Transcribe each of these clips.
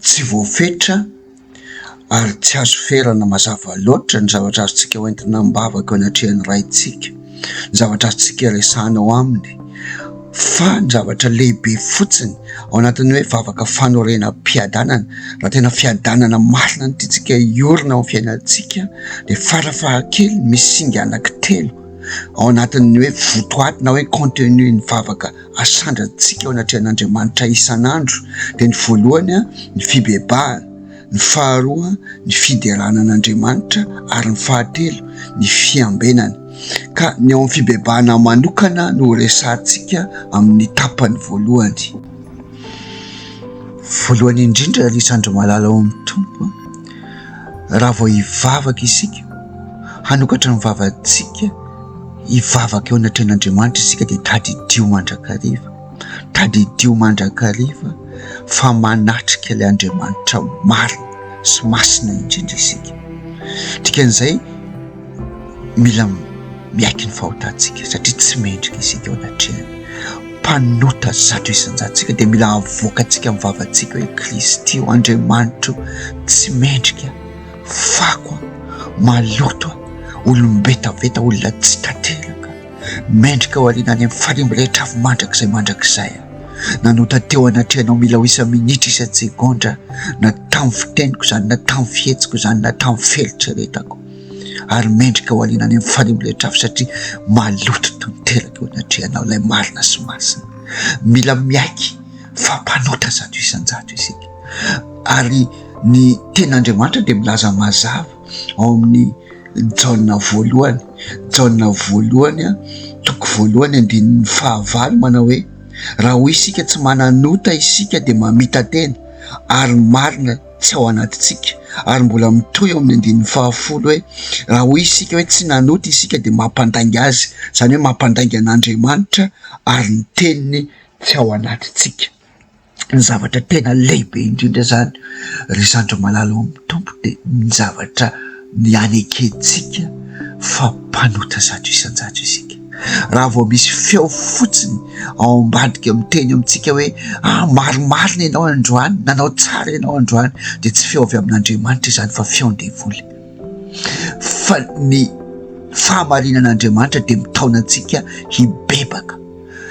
Tsy voafetra ary tsy azo ferana mazava loatra ny zavatra azontsika hoentina am-bavaka eo anatrehan'ny Raintsika. ny zavatra azontsika resahina ao aminy fa ny zavatra lehibe fotsiny ao anatin'ny hoe vavaka fanorenam-piadanana raha tena fiadanana masina ny tiantsika hiorina ao amin'ny fiainantsika dia fara fahakeliny misy singa anankitelo ao anatin'ny hoe votoaty na hoe contenu ny vavaka asandratsika ao anatrehan'Andriamanitra isan'andro dia ny voalohany ny fibebahana ny faharoa ny fiderana an'Andriamanitra ary ny fahatelo ny fiambenana. Ka ny ao amin'ny fibebahana manokana no resahantsika amin'ny tapany voalohany. Voalohany indrindra ry zandry malala ao amin'ny Tompo, raha vao hivavaka isika, hanokatra ny vavantsika hivavaka eo anatrehan'Andriamanitra isika dia tadidio mandrakariva. Tadidio mandrakariva fa manatrika ilay Andriamanitra marina sy masina indrindra isika. Dikan'izay, mila miaiky ny fahotantsika satria tsy mendrika isika eo anatrehany. Mpanota zato isan-jato isika dia mila avoakantsika amin'ny vavantsika hoe, Kristy ô, Andriamanitro tsy mendrika, fako aho, maloto aho, olom-betaveta, olona tsy tanteraka. Mendrika ao aoriana any amin'ny fanimba ilay trafo mandrakizay mandrakizay aho. Nanota teo anatrehanao mila ho isa-minitra, isa-tsegondra, na tamin'ny fiteniko izany, na tamin'ny fihetsiko izany, na tamin'ny fieritreretako. Ary mendrika ho alina any amin'ny fanimba ilay trafo satria maloto toy ny teraka eo anatrehanao ilay marina sy masina. Mila miaiky fa mpanota zato isan-jato isika. Ary ny Tenin'Andriamanitra dia milaza mazava. ao amin'ny Jaona voalohany, Jaona voalohany a, toko voalohany andininy fahavalo manao hoe, raha hoy isika tsy manan'ota isika dia mamita-tena ary ny marina tsy ao anatintsika, ary mbola mitohy ao amin'ny andininy fahafolo hoe, raha hoy isika hoe tsy nanota isika dia mampandainga azy, izany hoe mampandainga an'Andriamanitra ary ny teniny tsy ao anatintsika. ny zavatra tena lehibe indrindra zany ry zandry malala ao amin'ny Tompo de ny zavatra nianekentsika fa mpanota zato isan-jato isika. Raha vao misy feo fotsiny ao ambadika miteny amintsika hoe ah marimarina ianao androany, nanao tsara ianao androany de tsy feo avy amin'Andriamanitra izany fa feon-devoly. Fa ny fahamarinan'Andriamanitra de mitaona antsika hibebaka.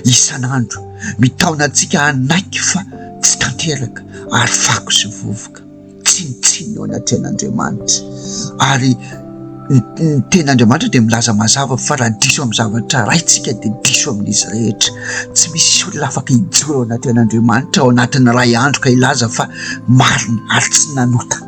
isan'andro, mitaona antsika hanaiky fa tsy tanteraka ary fako sy vovoka, tsinontsinona eo anatrehan'Andriamanitra. Ary ny tenin'Andriamanitra dia milaza mazava fa raha diso amin'ny zavatra iray isika dia diso amin'izy rehetra. Tsy misy olona afaka hijoro eo anatrehan'Andriamanitra ao anatin'ny iray andro ka hilaza fa marina ary tsy nanota.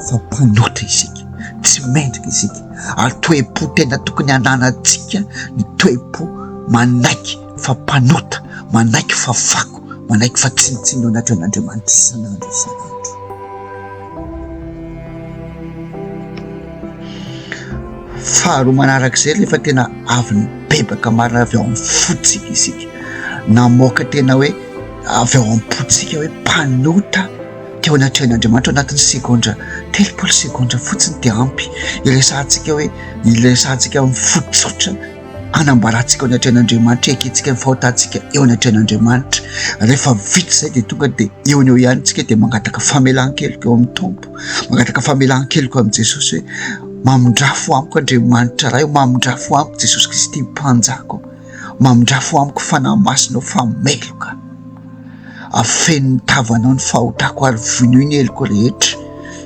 fa mpanota isika, tsy mendrika isika, ary toe-po tena tokony hananantsika ny toe-po manaiky fa mpanota, manaiky fa fako, manaiky fa tsinontsinona ao anatrehan'Andriamanitra isan'andro isan'andro. Faharoa manarak'izay, rehefa tena avy nibebaka marina avy ao amin'ny fontsika isika, namoaka tena hoe avy ao am-pontsika hoe mpanota, Teo anatrehan'Andriamanitra ao anatin'ny segondra telopolo segondra fotsiny dia ampy hiresahantsika hoe hiresahantsika amin'ny fo tsotra hanambarantsika ao anatrehan'Andriamanitra, hiakentsika ny fahotantsika eo anatrehan'Andriamanitra. Rehefa vita izay dia tonga dia eo an'eo ihany isika dia mangataka famelan-keloka eo amin'ny Tompo, mangataka famelan-keloka amin'i Jesosy hoe mamindrafo amiko Andriamanitra Ray, mamindrafo amiko Jesosy Kristy Mpanjako. Mamindrafo amiko fanahy masinao fa meloka Afeno ny tavanao ny fahotako ary vonoy ny heloko rehetra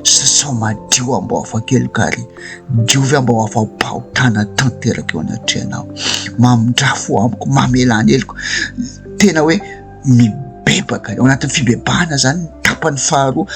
Sasao madio ambao afa-keloka ary diovy ambao afa-pahotana tanteraka eo anatrehanao Mamindrafo amiko mamela ny heloko Tena hoe mibebaka eo anatin'ny fibebahana zany ny tapany faharoa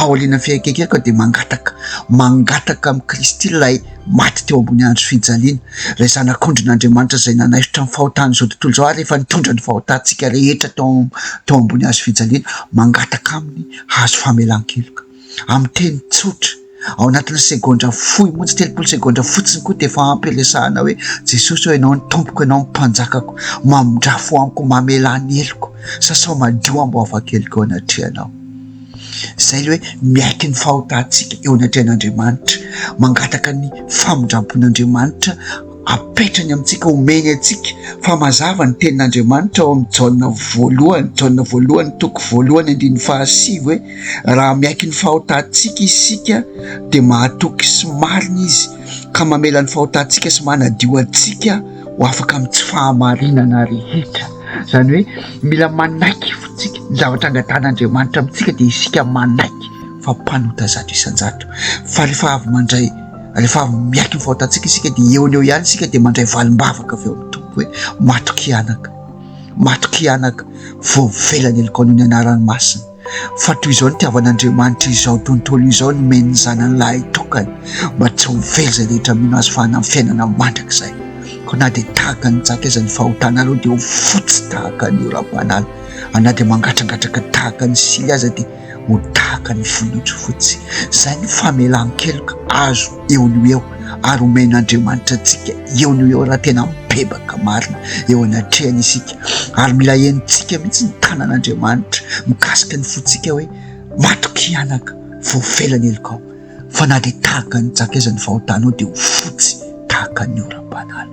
Aorianan'ny fiaikainkaiako dia mangataka, mangataka amin'i Kristy ilay maty teo ambony andry fijaliana, ilay Zanak'ondrin' Andriamanitra izay nanaisotra ny fahotan'izao tontolo izao ary efa nitondra ny fahotantsika rehetra tao tao ambony hazo fijaliana, mangataka Aminy hahazo famelan-keloka. Amin'ny teny tsotra, ao anatin'ny segondra fohy monja, telopolo segondra fotsiny koa dia efa ampy hiresahana hoe, Jesosy ô, Ianao no Tompoko, Ianao no Mpanjakako, mamindrafo amiko, mamela ny heloko, sasao madio amboavan-keloka eo anatrehanao. Izay ilay hoe miaiky ny fahotantsika eo anatrehan'Andriamanitra, mangataka ny famindrampon'Andriamanitra apetrany amintsika, omeny antsika. Fa mazava ny tenin'Andriamanitra ao amin'ny Jaona voalohany, Jaona voalohany toko voalohany andininy fahasivy hoe raha miaiky ny fahotantsika isika dia mahatoky sy marina izy ka mamela ny fahotantsika sy manadio antsika. ho afaka amin'ny tsy fahamarinana rehetra, izany hoe mila manaiky fotsika ny zavatra angadan'Andriamanitra amintsika dia isika manaiky fa mpanota zato isan-jato fa rehefa avy mandray rehefa avy miaiky ny fahotantsika isika dia eo no eo ihany isika dia mandray valim-bavaka avy ao amin'ny Tompo hoe mato-kianaka, mato-kianaka voavela ny alikaonao ny anarany masina. Fa toy izao nitiavan'Andriamanitra izao tontolo izao nomeny ny Zanany lahitokany mba tsy ho very izay rehetra mino Azy fa hanany fiainana mandrakizay. Koa na dia tahaka ny jaka aza ny fahotana alou dia ho fotsy tahaka ny oram-panala ary na dia mangatrangatraka tahaka ny sily aza dia ho tahaka ny volon'ondry fotsy. Izay ny famelan-keloka azo. eo no eo ary omen'Andriamanitra antsika eo no eo raha tena mibebaka marina eo anatrehany isika ary mila henontsika mihitsy ny tanan'Andriamanitra mikasika ny fontsika hoe matoky hianaka voafela ny helokao fa na dia tahaka ny jaka aza ny fahotanao dia ho fotsy tahaka ny oram-panala.